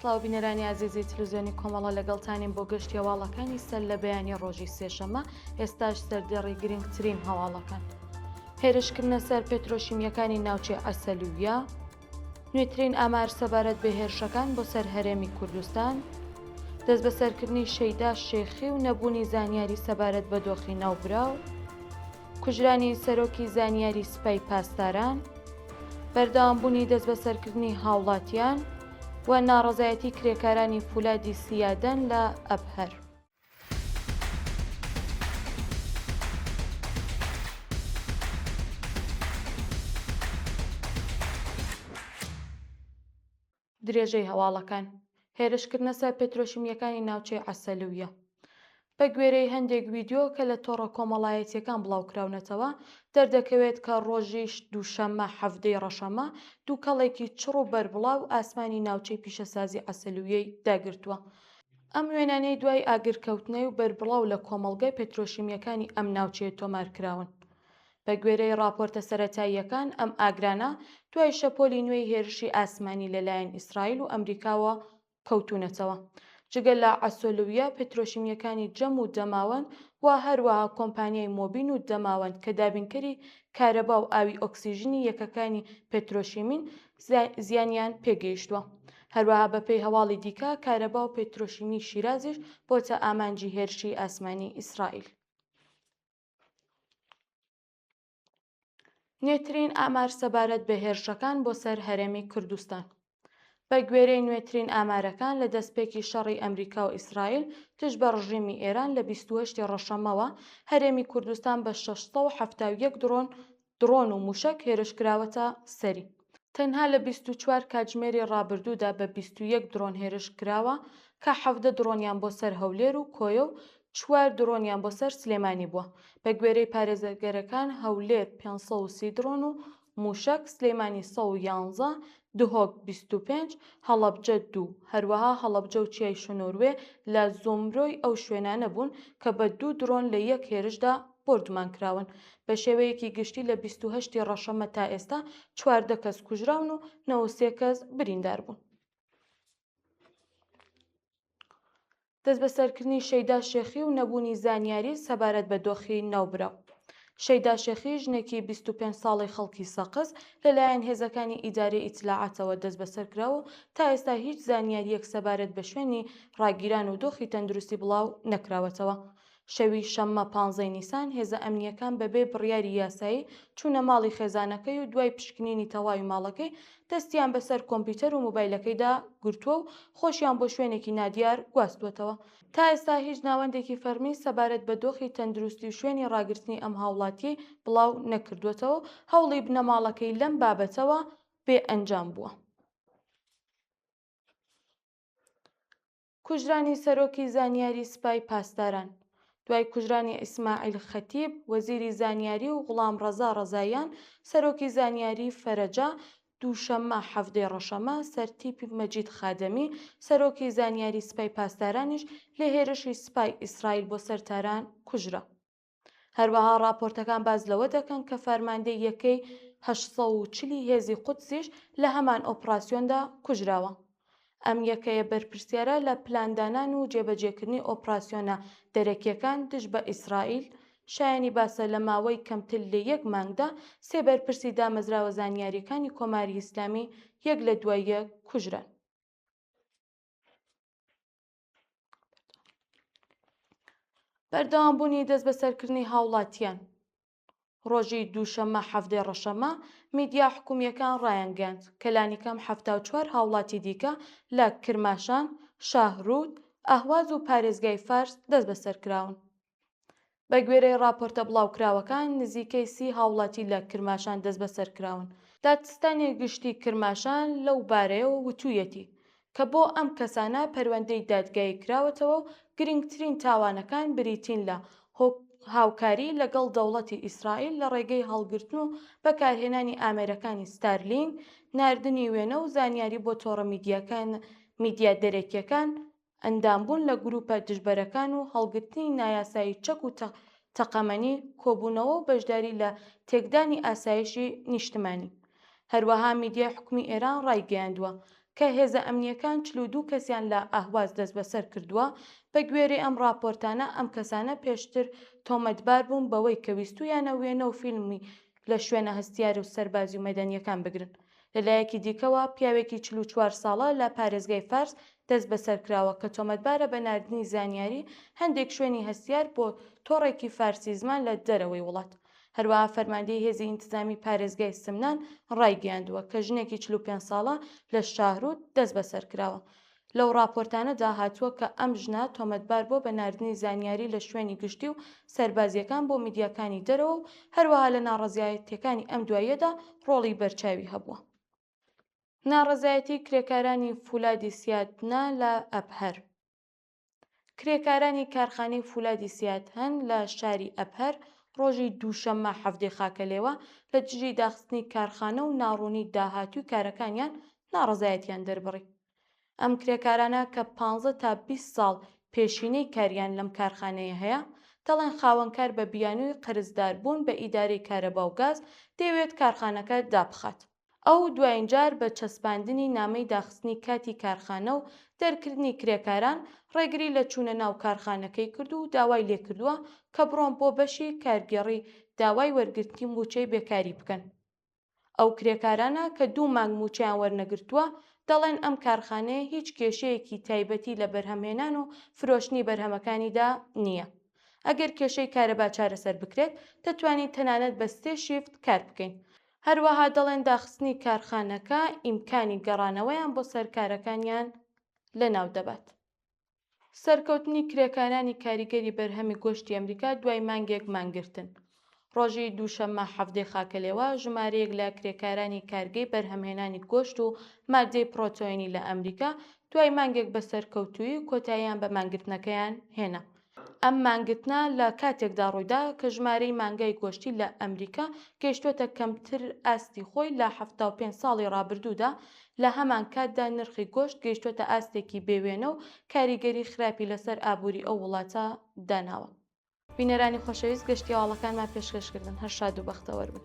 سڵاو بینەرانی ئازیزی تلوزیۆنی کۆمەڵە لەگەڵتانین بۆ گەشتی هەواڵەکانی سەر لە بەیانی ڕۆژی سێشەمە ئێستاش سەردێڕی گرنگترین هەواڵەکان هێرشکردنە سەر پێترۆشیمیەکانی ناوچەی عسلویە، نوێترین ئامار سەبارەت بە هێرشەکان بۆ سەر هەرێمی کوردستان، دەستبەسەرکردنی شەیدا شێخی و نەبوونی زانیاری سەبارەت بە دۆخی ناوبراو، کوژرانی سەرۆکی زانیاری سپای پاسداران، بەردەوامبوونی دەستبەسەرکردنی هاوڵاتیان و ناڕەزایەتی کرێکارانی فولادی سیادەن لە ئەبهەر. درێژەی هەواڵەکان هێرشکردنە سەر پترۆشیمیەکانی ناوچەی عەسەلویە بە گوێرەی هەندێک ویددیو کە لە تۆڕە کۆمەڵایەتیەکان بڵاوکراونەتەوە دەردەکەوێت کە ڕۆژیش دووشەممە حەفتەی ڕەشەمە دووکەڵێکی چڕ و بەربڵاو ئاسمانی ناوچەی پیشەسازی عەسەلویەی داگرتووە ئەم وێنانەی دوای ئاگرکەوتنەی و بەربڵاو لە کۆمەڵگە پێترۆشیمییەکانی ئەم ناوچەیە تۆمار کراون. بە گوێرەی ڕاپۆرتە سەرەتاییەکان، ئەم ئاگرانە دوای شەپۆلی نوێی هێرشی ئاسمانی لە لایەن ئیسرائیل و ئەمریکاوە کەوتوونەتەوە. جگە لە عەسۆلویە پێترۆشیمییەکانی جەم و دەماوەند و هەروەها کۆمپانیای مۆبین و دەماوەند کە دابینکەری کارەبا و ئاوی ئۆکسیژنی یەکەکانی پێترۆشیمین، زیانیان پێگەیشتووە. هەروەها بەپێی هەواڵی دیکە، کارەبا و پێترۆشیمی شیرازیش بۆتە ئامانجی هێرشی ئاسمانی ئیسرائیل. نوێترین ئامار سەبارەت بە هێرشەکان بۆ سەر هەرێمی کوردستان. بە گوێرەی نوێترین ئامارەکان لە دەستپێکی شەڕی ئەمریکا و ئیسرائیل دژ بە ڕژیمی ئێران لە 28 ڕەشەمەوە هەرێمی کوردستان بە 671 دڕۆن دڕۆن و مووشەک هێرشکراوەتە سەری، تەنها لە بیست و چوار کاتژمێری ڕابردوودا بە بیست و یەک دڕۆن هێرشکراوە کە حەڤدە دڕۆنیان بۆ سەر هەولێر و کۆیە و چوار دڕۆنیان بۆ سەر سلێمانی بووە، بەگوێرەی پارێزەرگەرەکان هەولێر پێنج سەد و سی دڕۆن و مووشەک، سلێمانی سەد و یانزە، دهۆک بیست و پێنج، هەڵەبجە دوو، هەروەها هەڵەبجە و چیای شنۆروێ لە زومرەی ئەو شوێنانە بوون کە بە دوو دڕۆن لە یەک هێرشدا بۆردومان کراون، بە شێوەیەکی گشتی لە بیست و هەشت ی ڕەشەممە تا ئێستا چواردە کەس کوژراون و نەوە و سێ کەس بریندار بوون. دەستبەسەرکردنی شەیدا شێخی و نەبوونی زانیاری سەبارەت بە دۆخی ناوبراو. شەیدا شێخی ژنێکی بیست و پێنج ساڵەی خەڵکی سەقز لەلایەن هێزەکانی ئیدارەی ئیتلاعاتەوە دەستبەسەر کراوە و تا ئێستا هیچ زانیارییەک سەبارەت بە شوێنی ڕاگیران و دۆخی تەندروستی بڵاو نەکراوەتەوە. شەوی شەممە پانزەی نیسان هێزە ئەمنییەکان بەبێ بڕیاری یاسایی چوونە ماڵی خێزانەکەی و دوای پشکنینی تەواوی ماڵەکەی دەستیان بەسەر کۆمپیوتەر و مۆبایلەکەیدا گرتووە و خۆشیان بۆ شوێنێکی نادیار گواستووەتەوە. تا ئێستا هیچ ناوەندێکی فەرمی سەبارەت بە دۆخی تەندروستی و شوێنی ڕاگرتنی ئەم هاوڵاتییەی بڵاو نەکردووەتەوە و هەوڵی بنەماڵەکەی لەم بابەتەوە بێ ئەنجام بووە. کوژرانی سەرۆکی زانیاری سپای پاسداران دوای کوژرانی ئیسماعیل خەتیب وەزیری زانیاری و غوڵام ڕەزا ڕەزاییان سەرۆکی زانیاری فەرەجە دووشەممە حەڤدەی ڕەشەمە سەر تیپی مەجید خادەمی سەرۆکی زانیاری سپای پاسدارانیش لە هێرشی سپای ئیسرائیل بۆ سەر تاران کوژرا. هەروەها ڕاپۆرتەکان باس لەوە دەکەن کە فەرماندەی یەکەی هەشت سەد و چلی هێزی قودسیش لە هەمان ئۆپڕاسیۆندا کوژراوە. ئەم یەکەیە بەرپرسیارە لە پلاندانان و جێبەجێکردنی ئۆپڕاسیۆنە دەرەکییەکان دژ بە ئیسرائیل، شایانی باسە لە ماوەی کەمتر لە یەک مانگدا سێ بەرپرسی دامەزراوە زانیارییەکانی کۆماری ئیسلامی یەک لە دوای یەک کوژران. بەردەوام بوونی دەست بەسەرکردنی هاوڵاتیان ڕۆژی دووشەممە حەفتێ ڕەشەمە میدیا حکومیەکان ڕایانگەند کەلانی کەم ه چوار هاوڵاتی دیکە لە کرماشان شاهرود ئەهواز و پارێزگای فارس دەست بەسەرکراون بەگوێرەی ڕاپۆرتە بڵاوکراوەکان، نزیکەی سی هاوڵاتی لە کرماشان دەستبەسەرکراون. دادستانی گشتی کرماشان لەو بارەیەوە وتوویەتی، کە بۆ ئەم کەسانە پەروەندەی دادگایی کراوەتەوە و گرنگترین تاوانەکان بریتین لە هاوکاری لەگەڵ دەوڵەتی ئیسرائیل لە ڕێگەی هەڵگرتن و بەکارهێنانی ئامێرەکانی ستارلینک، ناردنی وێنە و زانیاری بۆ تۆڕە میدیاکان میدیا دەرەکییەکان ئەندامبوون لە گرووپە دژبەرەکان و هەڵگرتنی نایاسایی چەک و تەقەمەنی، کۆبوونەوە و بەشداری لە تێکدانی ئاسایشی نیشتمانی. هەروەها میدیای حکومی ئێران ڕایگەیاندووە کە هێزە ئەمنییەکان چل و دوو کەسیان لە ئەهواز دەستبەسەر کردووە، بەگوێرەی ئەم ڕاپۆرتانە ئەم کەسانە پێشتر تۆمەتبار بوون بەوەی کە ویستوویانە وێنە و فیلمی لە شوێنە هەستیار و سەربازی و مەدەنییەکان بگرن. لە لایەکی دیکەوە، پیاوێکی چل و چوار ساڵە لە پارێزگای فارس دەستبەسەر کراوە کە تۆمەتبارە بە ناردنی زانیاری هەندێک شوێنی هەستیار بۆ تۆڕێکی فارسی زمان لە دەرەوەی وڵات. هەروەها فەرماندەی هێزی ئینتزامی پارێزگای سمنان ڕایگەیاندووە کە ژنێکی چل و پێنج ساڵە لە شاهروود دەستبەسەر کراوە لەو ڕاپۆرتانەدا هاتووە کە ئەم ژنە تۆمەتبار بووە بە ناردنی زانیاری لە شوێنی گشتی و سەربازییەکان بۆ میدیاکانی دەرەوە و هەروەها لە ناڕەزایەتییەکانی ئەم دواییەدا ڕۆڵی بەرچاوی هەبووە. ناڕەزایەتی کرێکارانی فولادی سیادنە لە ئەبهەر. کرێکارانی کارخانەی فولادی سیادهەن لە شاری ئەبهەر ڕۆژی دووشەممە حەڤدەی خاکەلێوە لە دژی داخستنی کارخانە و ناڕوونی داهاتووی کارەکانیان ناڕەزایەتیان دەربڕی. ئەم کرێکارانە کە پانزە تا بیست ساڵ پێشینەی کاریان لەم کارخانەیە هەیە، دەڵێن خاوەنکار بە بیانووی قەرزداربوون بە ئیدارەی کارەبا و گاز دەیەوێت کارخانەکە دابخات. ئەو دواین جار بە چەسپاندنی نامەی داخستنی کاتی کارخانە و دەرکردنی کرێکاران، ڕێگری لە چوونە ناو کارخانەکەی کرد و داوای لێکردووە کە بڕۆن بۆ بەشی کارگێڕی داوای وەرگرتنی مووچەی بێکاری بکەن. ئەو کرێکارانە کە دوو مانگ مووچەیان وەرنەگرتووە، دەڵێن ئەم کارخانەیە هیچ کێشەیەکی تایبەتی لە بەرهەمهێنان و فرۆشتنی بەرهەمەکانیدا نییە. ئەگەر کێشەی کارەبا چارەسەر بکرێت، دەتوانین تەنانەت بە سێ شیفت کار بکەین. هەروەها دەڵێن داخستنی کارخانەکە ئیمکانی گەڕانەوەیان بۆ سەر کارەکانیان لەناو دەبات. سەرکەوتنی کرێکارانی کاریگەری بەرهەمی گۆشتی ئەمریکا دوای مانگێک مانگرتن، ڕۆژی دووشەممە حەڤدەی خاکەلێوە ژمارەیەک لە کرێکارانی کارگەی بەرهەمهێنانی گۆشت و ماددەی پڕۆتۆینی لە ئەمریکا دوای مانگێک بە سەرکەوتوویی کۆتاییان بە مانگرتنەکەیان هێنا. ئەم مانگرتنە لە کاتێکدا ڕوویدا کە ژمارەی مانگای گۆشتی لە ئەمریکا گەیشتووەتە کەمتر ئاستی خۆی لە حەفتا و پێنج ساڵی ڕابردوودا، لە هەمان کاتدا نرخی گۆشت گەیشتووەتە ئاستێکی بێ وێنە و کاریگەری خراپی لەسەر ئابووری ئەو وڵاتە داناوە. بینەرانی خۆشەویست گەشتی هەواڵەکانمان پێشکەشکردن هەر شاد و بەختەوەر بن.